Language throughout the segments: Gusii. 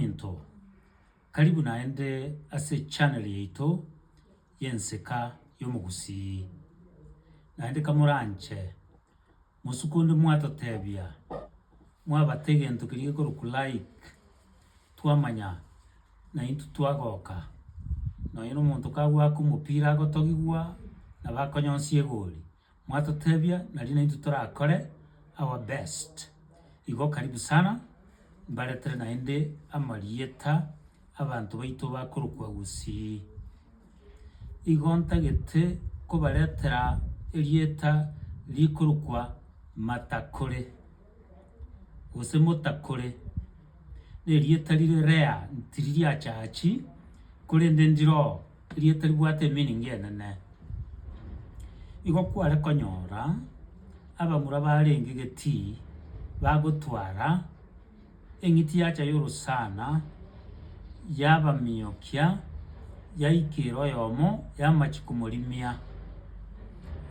Into. Karibu naende ase channel yaito y'Ensika y'Omogusii. Naende kamoranche, mosuku onde mwatotebia, mwabata egento keria gekorokwa like, twamanya naintwe twagoka. Nonye na omonto kagoaka omopira agotogigwa, nabo akonyonsi egori. Mwatotebia nari naintwe torakore our best. Igo karibu sana mbaretere naende amarieta abanto baito bakorokwa Gusii. Igo ntagete kobaretera erieta rikorokwa Matakore gose Motakore, nerieta rire rare tiririachachi korende ndiroo. Erio etaribwate emeaning enene. Igo kware konyora abamura barenge getii bagotwara eng'iti yacha y'orosana yabamiokia yaika ere oyomo yamachia komorimia.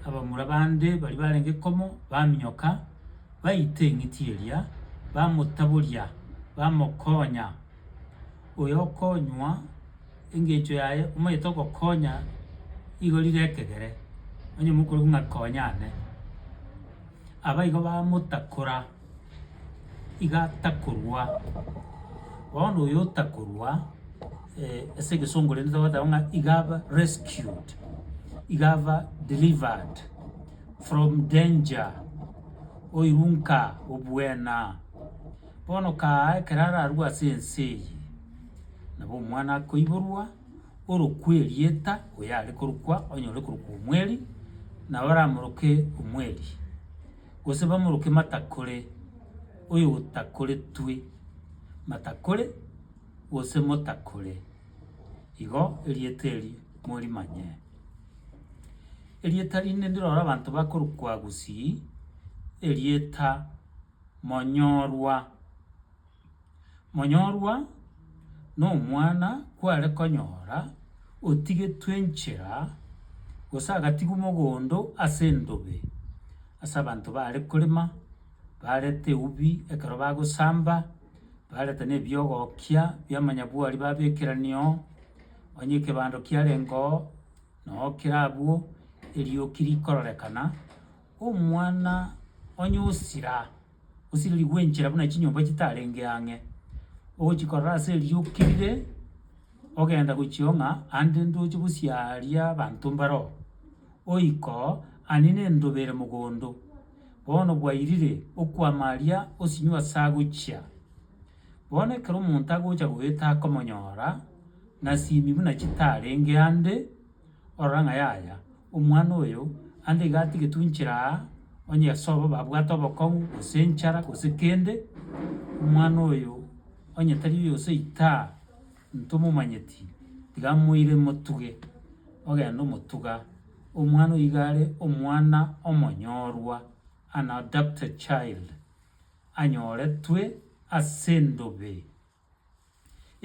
Abamura bande baria barenge komo bamioka baita eng'iti eria bamotaboria bamokonya. oyokonywa engencho yaye omanyete ogokonya igo rire ekegere, onye mokorokigwa ng'a konya ane. Abaigo bamotakora, iga atakorwa, bono oyo otakorwa ase egesongo rende togoteba ng'a iga aba rescued, iga aba delivered from danger, oirwe nka obuena. Bono kaaha ekero ararue ase ense eye, nabo omwana akoiborwa, orokwe erieta, oyo are korokwa onyore korokwa omweri, na baramoroke omweri, gose bamoroke matakore, oyotakoretwe, matakore, gose motakore, igo erieta eri morimanye. Erieta rinde ndiroro abanto bakorokwa gusii, erieta. Monyorwa. Monyorwa nomwana kware konyora otigetwe nchera gose agatigwa mogondo ase endobe ase abanto bare korema barete eubi ekero bagosamba barete na ebiogokia bia manyabwari babekerania oo, onye ekebando kiarenge oo, noo kera abwo erioki rikororekana. Omwana onye osira, osirerigwe enchera buna chinyomba chitarenge ang'e, ogochikorora ase erio okirire, ogenda gochia ng'a ande ndoche bosia aria abanto mbare oo, oika oo anini endobe ere mogondo, bono bwairire, okwama aria osinywe ase agochia. Bono ekero omonto agocha goeta akomonyora, nasimi buna chitarenge ande. Orora ng'a yaya, omwana oyo ande iga atigetwe inchera aa, onye ase obo babwate obokong'u, gose enchara, gose kende, omwana oyo onye tari oyo gose itaa, ntomomanyeti, tiga moire motuge, ogenda omotuga, omwana oyo iga are omwana omonyorwa, an adopted child, anyoretwe ase endobe.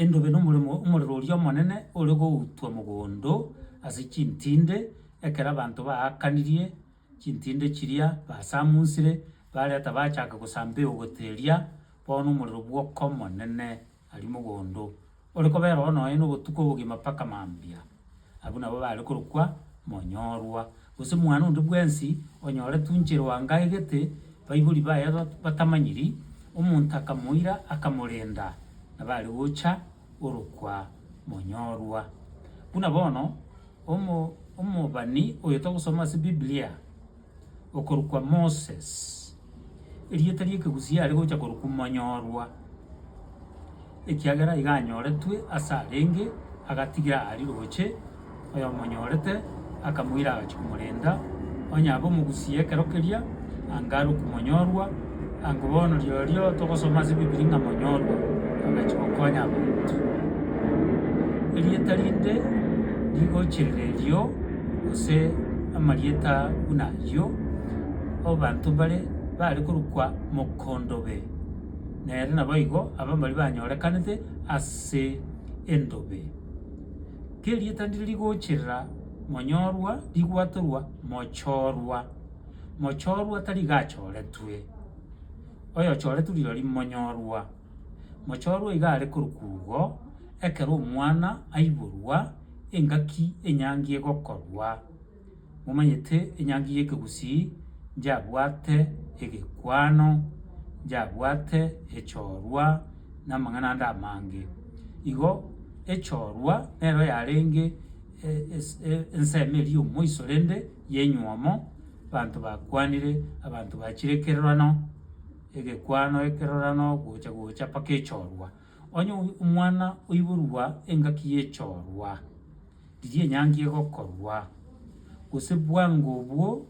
Endobe nomoremo omorero oria omonene ore goutwa mogondo ase chintinde, ekero abanto baakanirie chintinde chiria basamunsire, bareta bachaka gosamba eogote eria, bono omorero bwoka omonene aria mogondo, ore kobera oo nonya na obotuko obogima mpaka mambia. Abwo nabo bare korokwa monyorwa, gose mwane onde bwensi onyore tunche Ruanga egete, baibori baye batamanyiri, omonto akamoira akamorenda, nabo are gocha orokwa monyorwa. Buna bono, omo, omobani oyo togosoma ase Biblia. okorokwa Moses, erieta ri'ekegusii are gocha korokwa Monyorwa, ekiagera iga anyoretwe ase arenge, agatigira aari roche, oyomonyorete akamoira agachia komorenda, onye abe omogusie ekero keria, anga arokwe Monyorwa, Ango bono riorio togosoma ase Bibilia ng'a monyorwa agacha gokonya abanto. Erieta rinde rigochia erio gose amarieta buna ayio abanto mbare bare korokwa mokondobe, nere naboigo abwo mbaria banyorekanete ase endobe. Kerieta ndiri rigochirera monyorwa rigwatorwa mochorwa. mochorwa tari gachoretwe, oyochoretwe rirorio monyorwa, mochorwa iga are korukugo ekero omwana aiborwa engaki enyangi egokorwa. Momanyete enyangi y'ekegusii nchiabwate egekwano, nchiabwate echorwa na amang'ana ande amange. Igo echorwa nero yarenge ensemo eria y'omoiso rende. y'enywomo, abanto bakwanire, abanto bachire ekerorano, egekwano, ekerorano, gocha gocha mpaka echorwa. Onye omwana oiborwa engaki y'echorwa, riria enyangi egokorwa, gose bwango obwo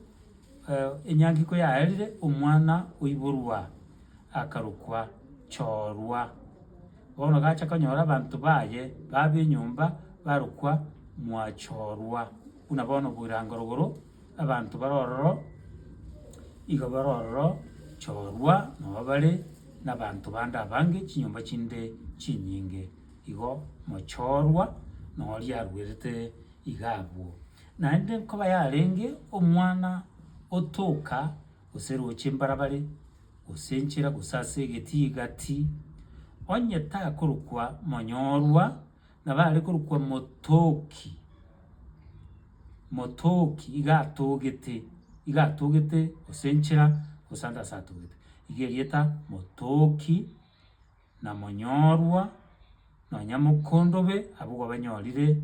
enyangi koyaerire, omwana oiborwa akarokwa chorwa. Bono gacha konyora abanto baye, baba enyomba, barokwa mwachorwa. Buna bono bw'irango rogoro, abanto bare ororo iga bare ororo, chorwa noba bare nabanto bande abange, chinyomba chinde chinyinge igo mochorwa noria aruerete iga abwo. Naende nkoba yarenge omwana otoka gose roche mbarabare, gose nchera, gose ase egeti egati, onye takorokwa monyorwa. Nabo are korokwa Motoki, Motoki iga atogete, iga atogete gose nchera gose ande ase atogete. Iga erieta Motoki na Monyorwa nonya Mokondobe abwo gwabanyorire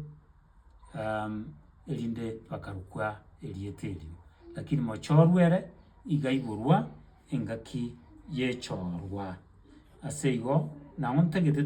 erinde bakarokwa erieta erio. Lakini Mochorwa ere iga aiborwa engaki y'echorwa. Ase igo nang'o ntagete.